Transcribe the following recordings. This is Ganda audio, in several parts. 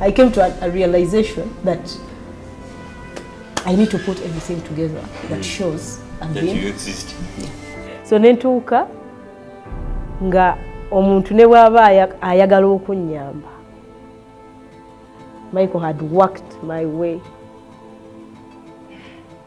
I came to a, a realization that I need to put everything together that mm. shows I'm that being... you exist. Yeah. So nentuuka nga omuntu ne bwaba ayagala okunnyamba Michael had worked my way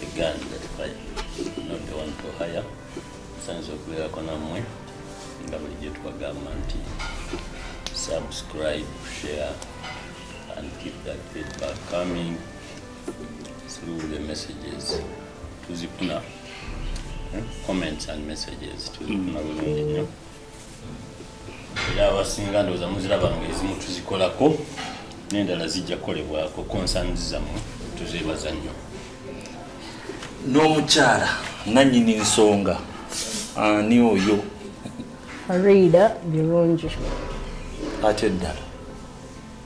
the gun that fight not the one for hire musanze okubeerako nammwe nga bulijjo tubagamba nti subscribe share and keep that feedback coming through the messages tuzifuna eh, comments and messages tuzifuna bulungi nnyo era abasinga ndowooza muziraba nga ezimu tuzikolako n'endala zijja kukolebwako concerns zammwe tuzeebaza nnyo n'omukyala nannyini nsonga ani oyo riida birungi ate eddala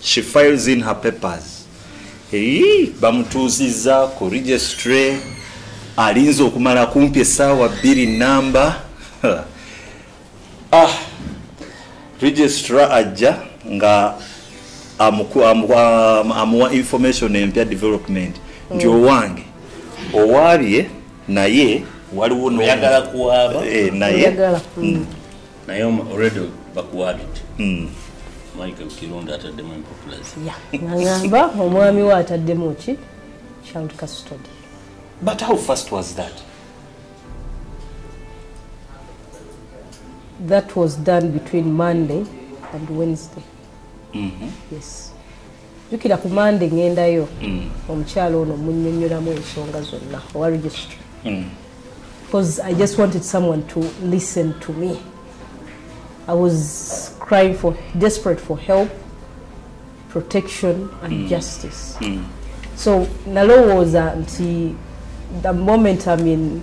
she files in her papers eyi bamutuuzizza ku registry alinze okumala kumpi esaawa bbiri namba ah registra ajja nga amuwa information empya development nti mm. owange owaabye naye waliwo eh, naye mm. naye already bakuwabidde hmm. mike kironda ataddemu empopulazi agamba omwami we ataddemu ki child custody but how fast was that that was done between monday and wednesday mm -hmm. yes jukira ku mande ngendayo mm. omukyalo ono munyonyoramu ensonga zonna owa registry mm. because i just wanted someone to listen to me i was crying for desperate for help protection and mm. justice mm. so nalowooza nti the moment i'm in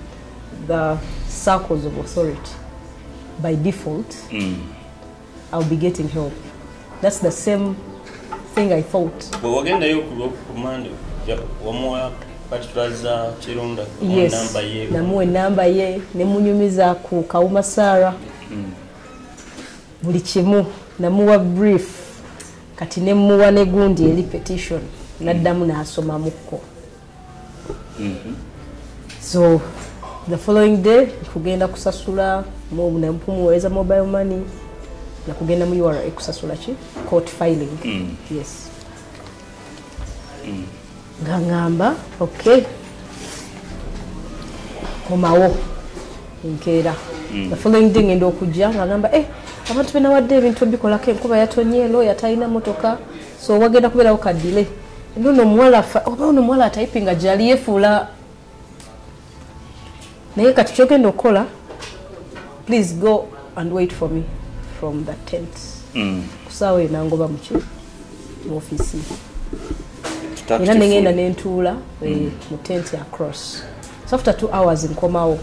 the circles of authority by default mm. I'll be getting help. That's the same thing I thought. But we're getting the yoke command. One more patulaza kirunda. Yes. Number ye. Namwe number ye. Nemunyumiza ku kauma Sara. Mm. Buli kimu. Namuwa brief. Kati nemuwa negundi eli petition. Naddamu na asoma muko. mm-hmm. so the following day kugenda kusasula nampumuweza mobile money nakugenda mu ura kusasula ki court filing mm. yes mm. nga ngamba okay komawo enkeera mm. the following day ngenda okujja nga ngamba eh abantu benawadde ebintu ebikolako enkuba yatonye looya talina motoka so wagenda kubeerawo kadile nono omuwala oba ono omuwala atayipinga gyali yefuula naye kati kyogenda okukola please go and wait for me from the tent mm. kusaawa eyo nangoba muki mu ofiisi era nengenda nentuula eh, mm. mu tent across so after two hours nkomawo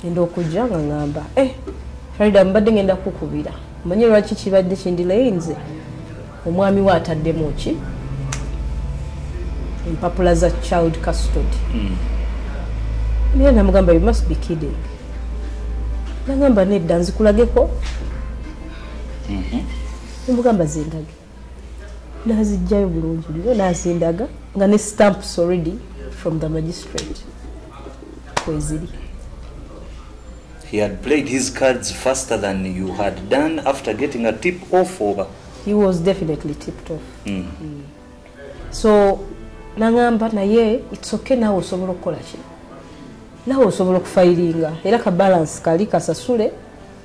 enda okujja nga ngamba eh, farida mbadde ngenda kukubira manye lwaki kibadde kindilaye nze omwami we ataddemu ki empapula za child custody hmm. naye mm. namugamba you must be kidding nagamba nedda nzikulageko mm -hmm. nemugamba zindage nazijjayo bulungi nyo nazindaga nga ne stamps already from the magistrate kweziri he had played his cards faster than you had done after getting a tip off over he was definitely tipped off mm. Mm. so nangamba naye it's okay nawe osobola okukola ki nawe osobola okufayiringa era ka balance kali kasasule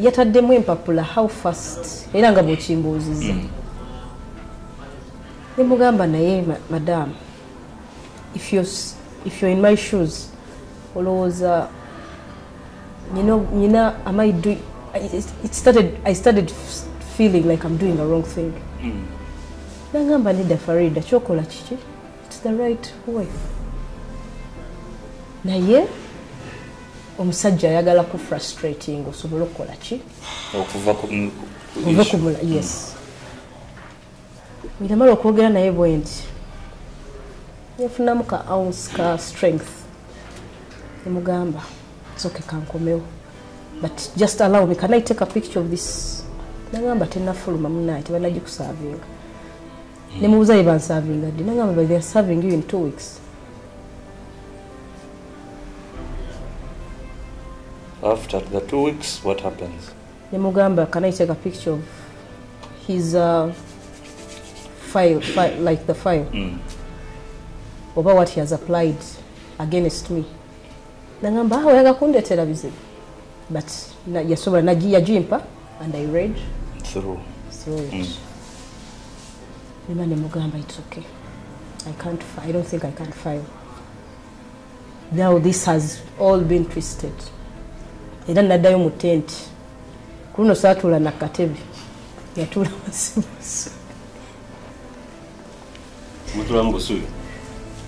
yataddemu empapula how fast era nga bwekimbuuzizza mm. nemugamba naye madamu if you're, if you're in my shoes olowooza nyina am i doing it started i started feeling like i'm doing a wrong thing mm. nangamba nedda farida kyokola kiki naye omusajja ayagala ku frustrating osobole okukola ki okuva kumula yes ngamala okwogera naye bwendi yafunamu ka ounce ka strength emugamba soke kankomewo but just allow me can i take a picture of this nagamba tenafuluma munaye tebanagikusavinga ne mubuza ye bansavinga ddi nangamba by theyare serving you in two weeks after the two weeks what happens ne mugamba can i take a picture of his uh, file, file like the file mm. oba what he has applied against me nangamba ah, oyaga kundetera bizibu but yasobola yajimpa and i read through through it mm. nima nemugamba it's okay i can't i don't think i can't file now this has all been twisted era naddayo mu tenti ku luno saatuula nakatebe yatuula masimusi mutula mubusubi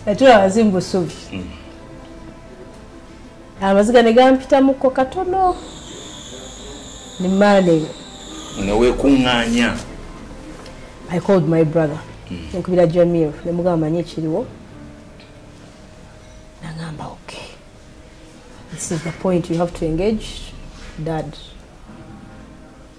natula wazi mubusubi mm. amaziga negampitamuko katono nimaneyo newekunganya i called my brother mm. nkubira jamir nemugamba manye ekiriwo nagamba ok this is the point you have to engage dad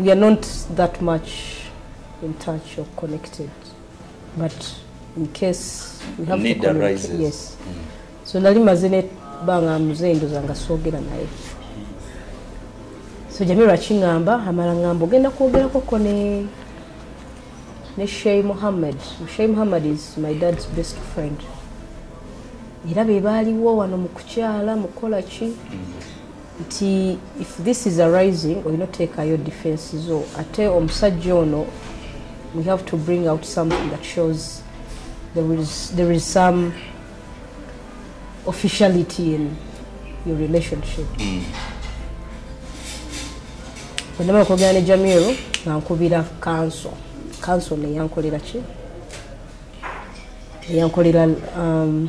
we are not that much in touch or connected but in case we have Need to communicate arises. yes mm. so nali maze ne banga mzee ndoza nga sogera naye so jamiro akingamba amala ngambo genda kwogera koko ne ne Shay Muhammad Shay Muhammad is my dad's best friend era be baaliwo wano mu kukyala mukola ki mm. nti if this is arising olina oteekayo defense zo ate omusajja ono we have to bring out something that shows there is, there is some officiality in your relationship mm. bwenaba okwogera ne jamiru ngankubira kanso kanso neyankolera ki eyankolera um,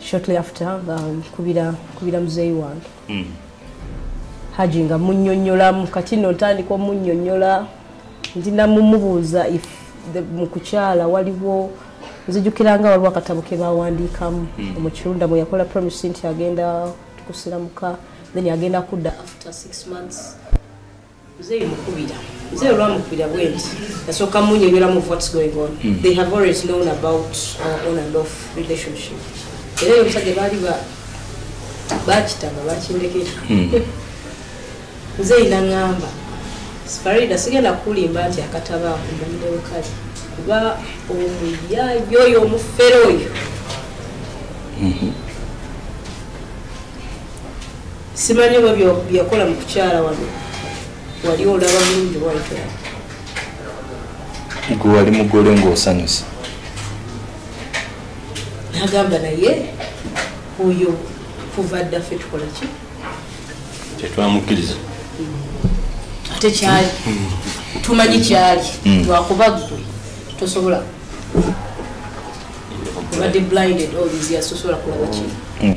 shortly after nga nkubira nkubira muzeeyi wange mm. haji nga munyonyolamu kati no ntandika omunyonyola ndi namumubuuza if mu kukyala waliwo nzijukira nga waliwo akatabo ke bawandiikamu mm. omukirunda mwe yakola promise nti agenda tukusiramuka then agenda kudda after six months Mzee mukubira. Mzee olwamukubira bwenti. Nasooka munyonyola mu what's going on. Mm. They have always known about our on and off relationship. Era yo musajja baali ba bakitaba bakindekera. Mm. Mzee nangamba. Farida sigenda kulimba nti akataba kumbandewo kali. Kuba omuyayo oyo omufere oyo. Mm -hmm. simanyi oba byeyakola mu kukyala wano wali olaba bulungi obawaitola gwe wali mugole ngaosanyusa nagamba naye oyo kuva dda ffe tukola ki tetwamukkiriza mm. ate kyali mm. tumanyi kyali mm. lwakuba gwe tosobola obadde blinded all these years tosobola kulaba kino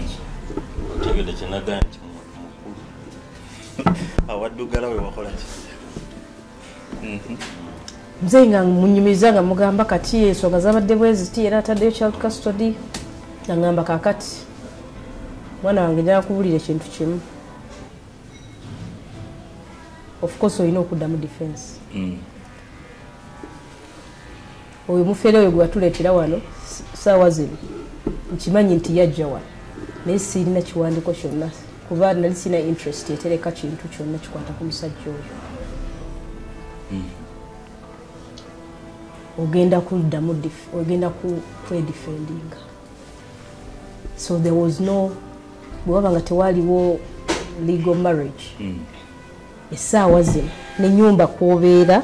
otegede kyenagaya nti muntu mukulu awaddugala wewakola ki mhm. mzeyi nga munyumiriza nga mugamba kati ensonga zabadde bweziti era ataddeyo child custody nangamba kakati mwana wange njakubulira ekintu kimu ofcourse olina okuddamu defense mm. oyo mufere oyo gwewatuleetera wano saawa zino nkimanyi nti yajja wano naye sirina kiwandiko kyonna kuba nali sirina interest etereka kintu kyonna kikwata ku musajja oyo hmm. ogenda kuddamu ogenda kwedifendinga so there was no bwewaba nga tewaliwo legal marriage hmm. esaawa zino nenyumba kwobeera mm.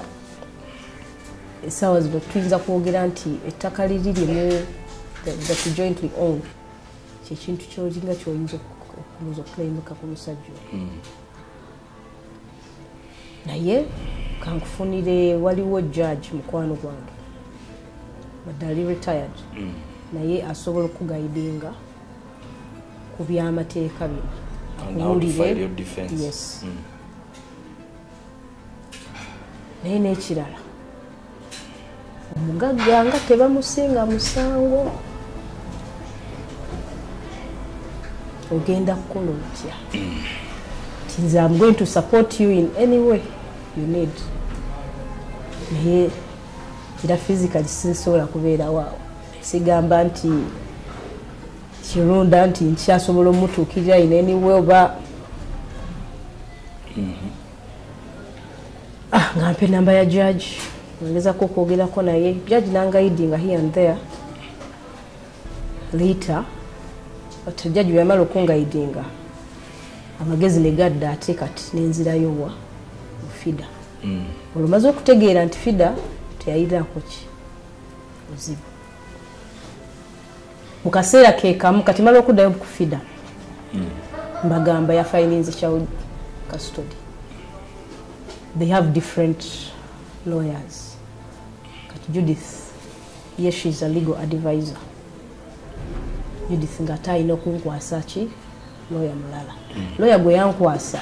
essaawa zino tuyinza kwogera nti ettaka liri limu that jointly own kyekintu kyolinga kyoyinza okuza okulayimika ku musajja hmm. naye kankufunire waliwo judge mukwano gwange badali retired hmm. naye asobola okugaidinga ku byamateeka bino akuwulire yes mm. naye n'ekirala omugagga nga tebamusinga musango ogenda kukola otya ti nze am going to support you in any way you need naye era physically sinsobola kubeerawaawo sigamba nti kirunda nti nkyasobola omutuukirira in any way oba mhm. ah, nga mpa enamba ya jaji ngezako okwogerako naye jaji nangaidinga here and there later but jaji weyamala okungaidinga amagezi negadda ate kati nenzirayo wa ofida mm. olumaze okutegeera nti fida teyayirako ki buzibu mu kaseera kekamu kati mala okuddayo mukufida hmm. mbagamba ya filinzi child custody they have different lawyers kati judith ye she is a legal advisor judith ngate alina okunkwasa ki lawyer mulala mm. lawyer gwe yankwasa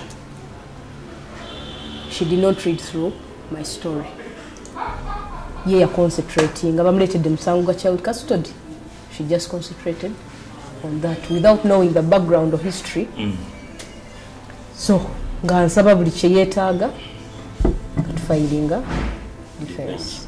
she did not read through my story ye yaconcentrating nga bamuleetedde musango gwa child custody she just concentrated on that without knowing the background of history mm. so nga nsaba buli kyeyetaaga nga tufayiringa defense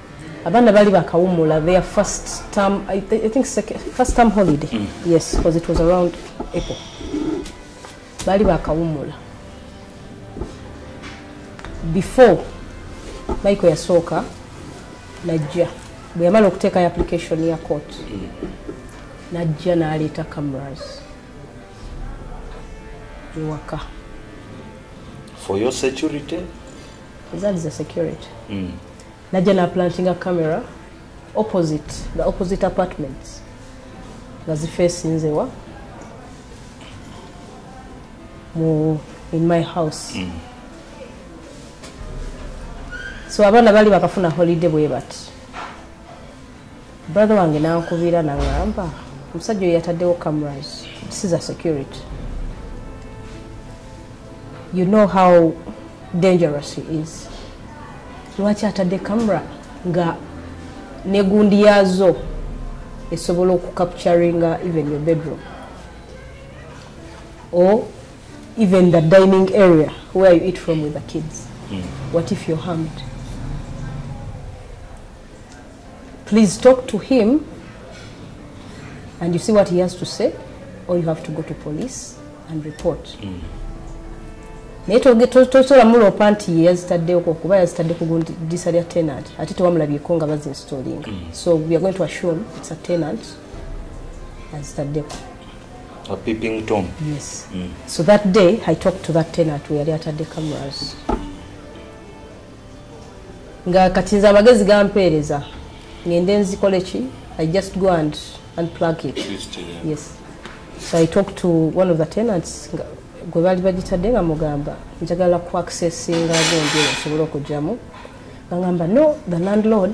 abaana bali bakawumula their first term i, I think second, first term holiday mm. yes because it was around april bali bakawumula before michael yasooka najja bwe yamala okuteekayo application ya court mm. najja n'aleeta cameras ewaka for your security ezaali za security mm. najja naplantinga camera opposite the opposite apartments nga zifeesinzewa mu in my house mm. so abaana bali bakafuna holiday bwe bati brother wange nankubira naŋamba omusajja oyo yataddewo cameras this is a security you know how dangerous he is lwaki atadde camera nga negundi yaazo esobola okucapturinga even your bedroom or even the dining area where you eat from with the kids mm. what if you're harmed Please talk to him and you see what he has to say or you have to go to police and report. Mm. naye tosobola muloopa nti ye yazitaddeko kuba yazitadde ku gundisa lya tenant ate tewamulabyeko nga bazinstallinga mm. so weare going to assume its a tenant azitaddeko yes mm. so that day i talked to that tenant weyali atadde cameras nga kati nze amagezi gampeereza ngende nzikole ki i just go and unplug it yes so i talk to one of the tenants gwe baali bagitadde nga mugamba njagala ku accessinga gonje osobole okugyamu bangamba no the landlord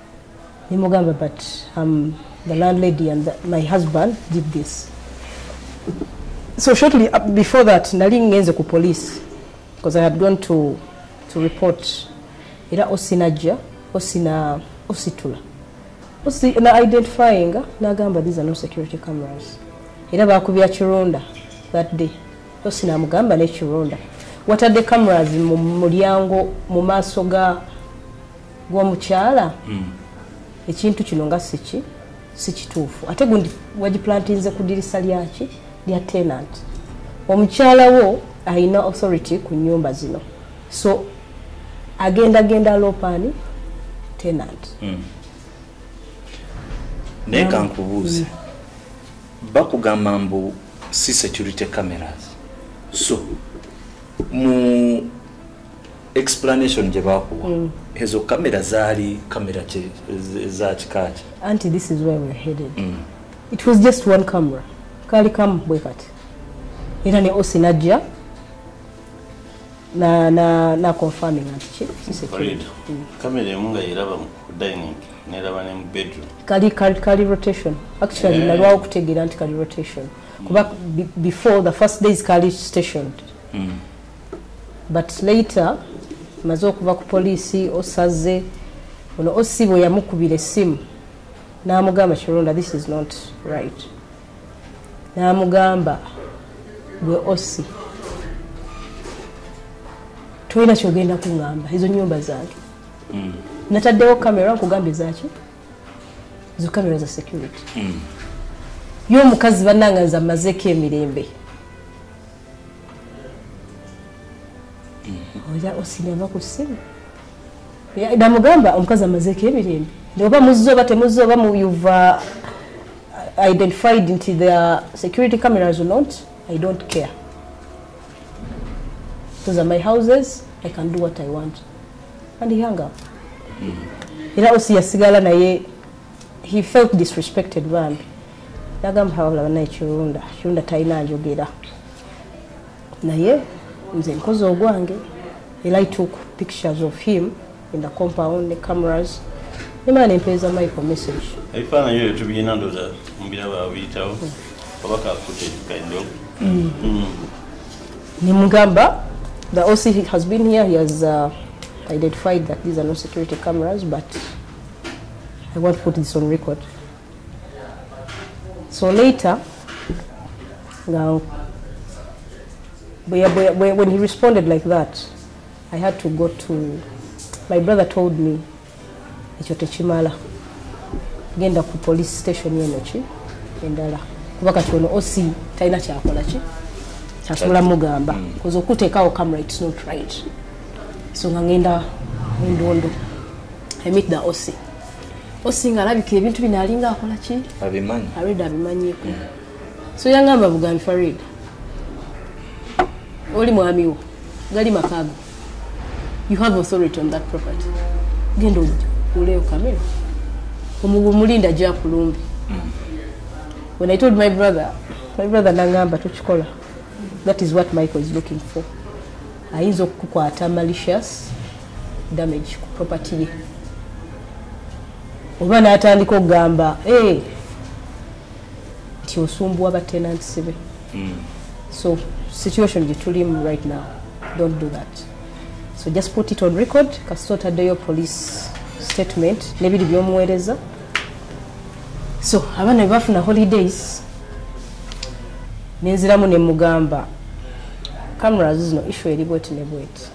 nimugamba but um, the landlady and the, my husband did this so shortly uh, before that nali ngenze ku police because i had gone to, to report era osinajja osina ositula osi na identifying nagamba these are no security cameras era bakubya kironda that day osina amugamba nekironda watadde cameras mu mulyango mu maaso ga gwomukyala mm. ekintu kino nga siki sikituufu ate gundi wagiplantinze ku dirisa lyaki lya tenant omukyala wo alina authority ku nyumba zino so agenda genda lopani tenant mm. naye kankubuuze mm. bakugamba mbu si security cameras so mu explanation gye baakuwa mm. ezo kamera zaali kamera za kikaaki anti this is where we're headed mm. it was just one camera kaali kamu bwe kati era ne osi najja na na na confirming anti ki security mm. kamera emu nga yeraba mu dining neraba ne mu bedroom kali kali kali rotation actually yeah. nalwa okutegera anti kali rotation kuba mm. before the first days kali stationed mm. but later maze okuva ku poliisi osaze ono osi bwe yamukubira essimu n'amugamba kironda this is not right n'amugamba gwe osi tolina kyogenda kuŋamba ezo nyumba zange mm. nataddewo kamera nkugambye zaki ezo kamera za security mm. yo omukazi bananganza mazeko emirembe mm-hmm. oja osinaba ku ssimu namugamba omukazi amazeeko emirembe oba muzze oba temuzze oba muyuva uh, identified nti the security cameras or not i don't care those are my houses i can do what i want and he hung up mm-hmm. era osi yasigala naye he felt disrespected bambi nagamba hawabula banaye kirunda kirunda talina njogera naye nze nkozi ogwange era i took pictures of him in the compound ne cameras nemana nempeeza michael message ebifaananyi ebyo tubiyina ndoza mubira babiyitawo hmm. oba kakutekaido hmm. hmm. nemugamba the oc has been here he has uh, identified that these are no security cameras but I want to put this on record. So later, now, when he responded like that, I had to go to, my brother told me, ekyo tekimala genda ku police station eno ki endala kuba kati ono oc talina kyakola ki kyasobola mugamba mm. koza okuteekawo camera its not right so nga ngenda endondo emit the osi osi nga alabikira ebintu bino alinga akola ki abimanyi arid abimanyiko mm. so yangamba bugambi farid oli mwami wo gali makago you have authority on that property genda oleyo kamera omulinda gyakulumbi mm. when i told my brother my brother nangamba tukikola that is what michael is looking for ayinza okukukwata malicious damage ku property ye oba n'atandika okugamba eh, nti osumbuwa batenants be hmm. so situation gye tulimu right now don't do that so just put it on record kasita otaddeyo police statement nebiri byomuweereza so abaana bebafuna holidays nenziramu nemugamba cameras zino issue eri bweti ne bweti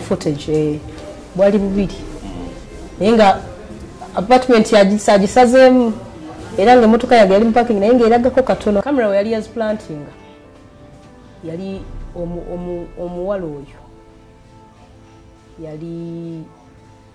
footage eh, bwali bubiri naye nga apartment yagisagisazeemu era nga emotoka yage yali mupaking naye ngaeragako katono camera weyali yaziplantinga yali omuwala oyo yali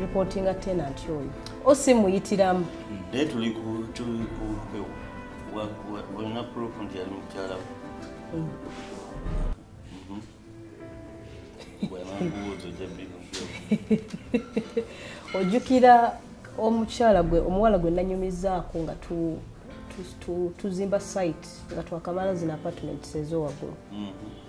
reportinga tenant oyo osimuyitiramu naye tuli olina proof nti yali mukyala mm. mhm. ojjukira omukyala gwe omuwala gwe nanyumizaako nga tuzimba site nga twakamala zino apartments ezowaggulu mhm.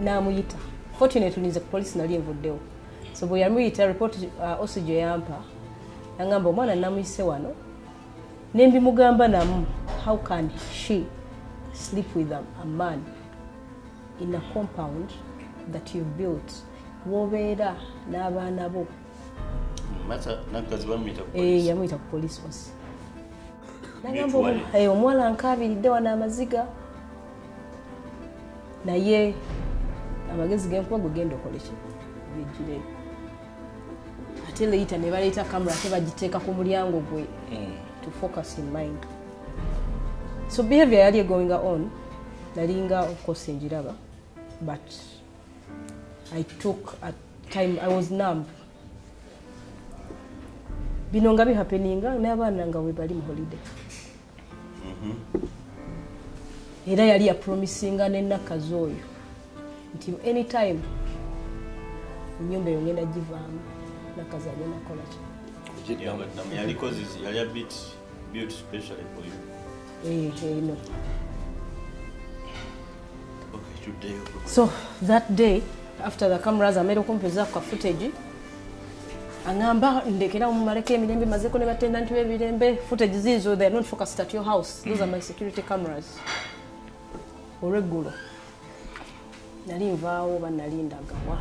namuyita fortunately nze ku polisi nali evuddewo so bwe yamuyita report uh, osi gye yampa nangamba omwana namuyise wano nembimugamba namu how can she sleep with a, a man in a compound that you built wobeera n'abaana bo eh, yamuyita ku polisi osi nagamba eh, omuwala nkaabiridde wano amaziga naye amagezi genkuba gwe genda okoleki bijire ate leita nebaleeta kamera ate bagiteeka ku mulyango gwe mm. to focus in mind so behavior yali egoing on nalinga okukosa enjiraba but i took a time i was numb bino nga bihapeninga n'abaana nga webali mu holiday mhm. era yali yapromisinga nenakazi oyo nti anytime enyumba eyo ngenda givaamu nakazi agenda kukolaki eno so that day after the cameras amera okumpeza ku ka footage angamba ndekera omumaleko emirembe mazeko ne batendanti b'ebirembe footage ziizo they are not focused at your house those are my security cameras olweggulo nali nvaawo oba nali ndagawa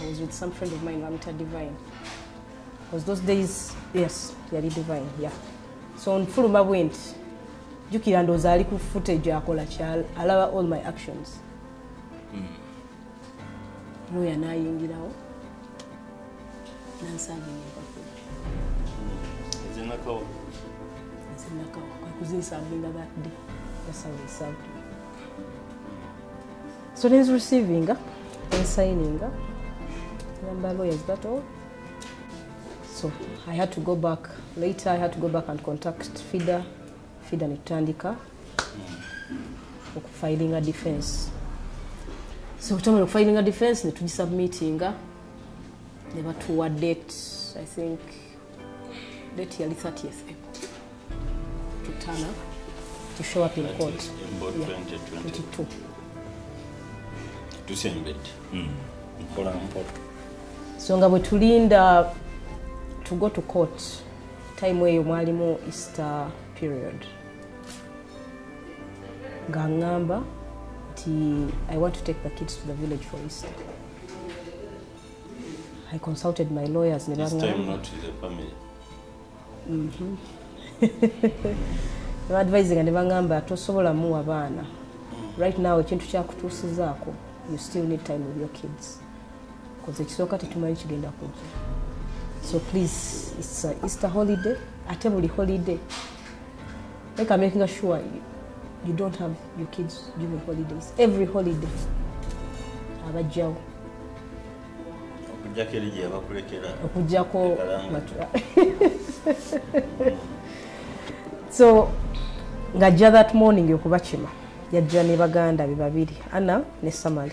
i was with some friend of mine bamita divine was those days yes yali divine yeah so nfuluma bwenti jukira ndooza ali ku footage akola kyal alaba all my actions mm. looya n'ayingirawo nansanga empapula ezinakawa ezinakawa kwekuzinsambinga that day yasawesabu so nezi receivinga ensininga namba looya zibatowa so i had to go back later i had to go back and contact fida fida ne tutandika okufilinga defense so kutamala okufilinga defense ne tugisubmitinga ne batuwa date i think date yali 30 to turn up to show up in court yeah, 22 tusembedde hmm. mpola mpola so nga bwe tulinda to go to court time eyo mwalimu easter period nga ŋŋamba nti i want to take the kids to the village for easter i consulted my lawyers ne baŋŋamba mhm. advisinga ne baŋŋamba tosobola muwa baana right now ekintu kyakutuusizaako you still need time with your kids koze ekisooka tetumanyi kigenda kujja so please its easter holiday ate buli holiday leka makinga sure you, you don't have your kids during holidays every holiday abajjawo okujjako so ngajja that morning okubakima yajja ne baganda be babiri ana ne samali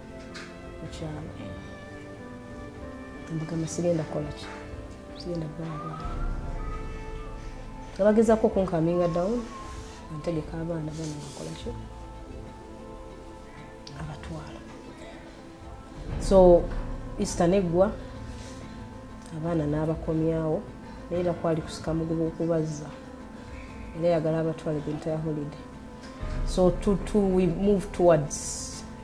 mugamba sigenda kukolaki sigenda kukola abaana abagezako okunkaminga down antegeka abaana bana nakolaki abatwala so easter neggwa abaana n'abakomyawo naye era kwali kusika muguba okubazza era yagala abatwale the entire holiday so to, to we move towards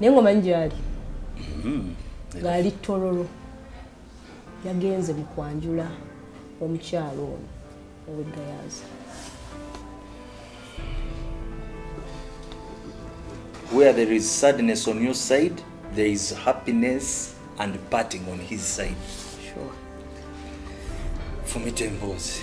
naye ngaomanyi gyali mm-hmm. ngaali tololo yagenze mu kwanjula omukyalo ono owegayaza where there is sadness on your side there is happiness and parting on his side sure. fumita emboozi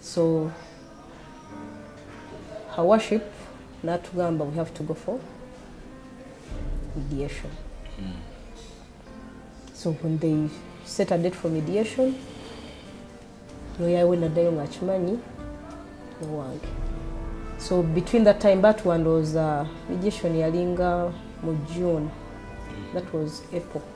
so her worship natugamba we have to go for mediation mm. so when they set a date for mediation noyawe naddayo ngaakimanyi nowange so between that time batwandooza mediation yalinga mu june that was april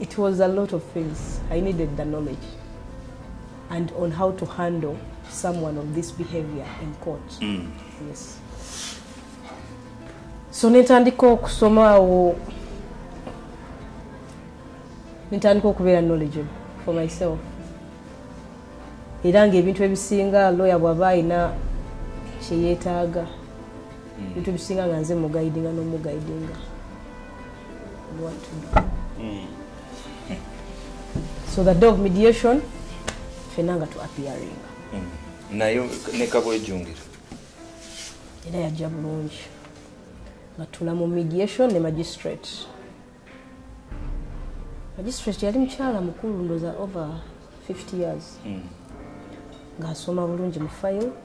It was a lot of things. I needed the knowledge and on how to handle someone of this behavior in court. Mm. Yes. So netandika okusoma awo netandika okubeera knowledgeable for myself era ngaebintu ebisinga lawyer bwaba alina kyeyetaaga mm. ebintu ebisinga nga nze mugaidinga nomugaidinga what to do mm. so the day of mediation fena nga tu appearing mm. nayo nekabwejungira era yajja bulungi nga tula mu mediation ne magistrate magistrate yali mukyala mukulu ndoza over 50 years mm. ngaasoma bulungi mu file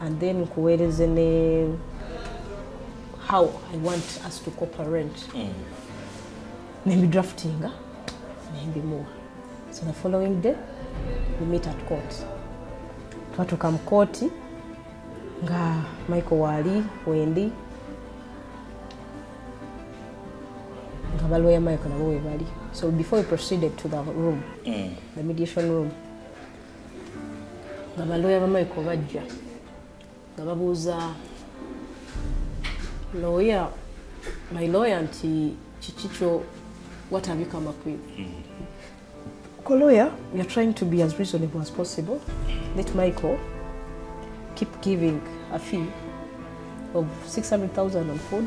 and then nkuweereze ne how i want us to cooperate mm. nembidraftinga nembimuwa so the following day we meet at court twatuuka mu kooti nga michael waali wendi nga balwoya michael nabo webali so before we proceeded to the room mm. the mediation room nga balooya bamaiko bajja nga babuuza looya my looya nti kiki kyo watabika makwiru lawyer we are trying to be as reasonable as possible let michael keep giving a fee of 600000 on food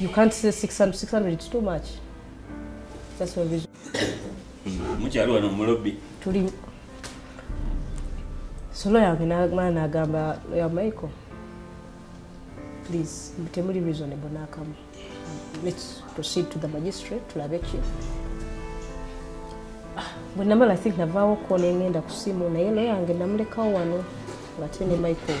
You can't say 600, 600, it's too much. That's why we... Mukyalo wano mu lobby. Tuli... Solo yange n'agamba n'agamba ya Michael. Please, temuli reasonable n'akamu. Let's proceed to the magistrate, tulabe ki. Ah, bwe namala think navaawo ko ne ngenda ku ssimu naye loyange namulekawo wano ng'ate ne Michael.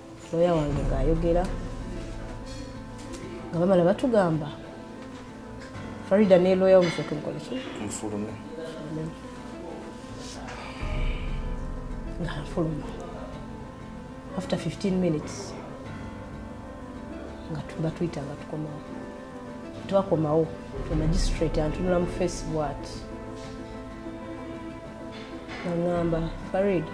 looya wange ng'ayogera nga bamala batugamba farida ne looya wamufe tunkoleki nfulume nga nfuluma after 15 minutes nga batuyita nga tukomawo twakomawo omagistrate antunula mu face bwati nangamba farida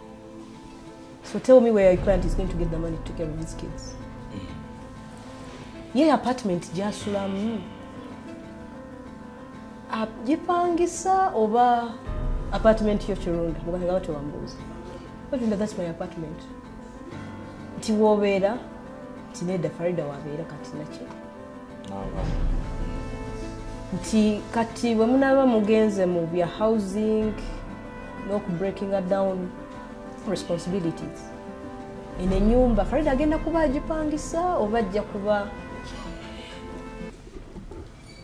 So tell me where your client is going to get the money to take care of these kids. Ye apartment gyasulamu agipangisa oba apartment yo kirunda mubanga batewambuuza otunda thats my apartment nti wobeera nti nedda farida wabeera kati nakyo nti kati bwe munaaba mugenze mu bya housing n'okubreakinga down responsibilities eno enyumba farida agenda kuba agipangisa oba ajja kuba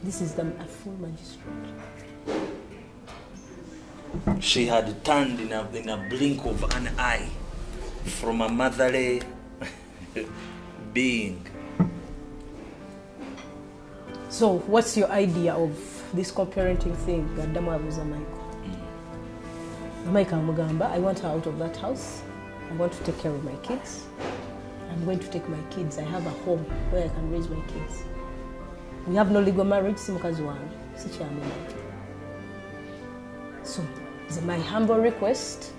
this is the full magistrate she had turned in a, in a blink of an eye from a motherly being so what's your idea of this co-parenting thing gaddamu abuuza michael mm. michael amugamba i want her out of that house i want to take care of my kids i'm going to take my kids i have a home where i can raise my kids we have no legal marriage si mukazi wange sikyamumai so my humble request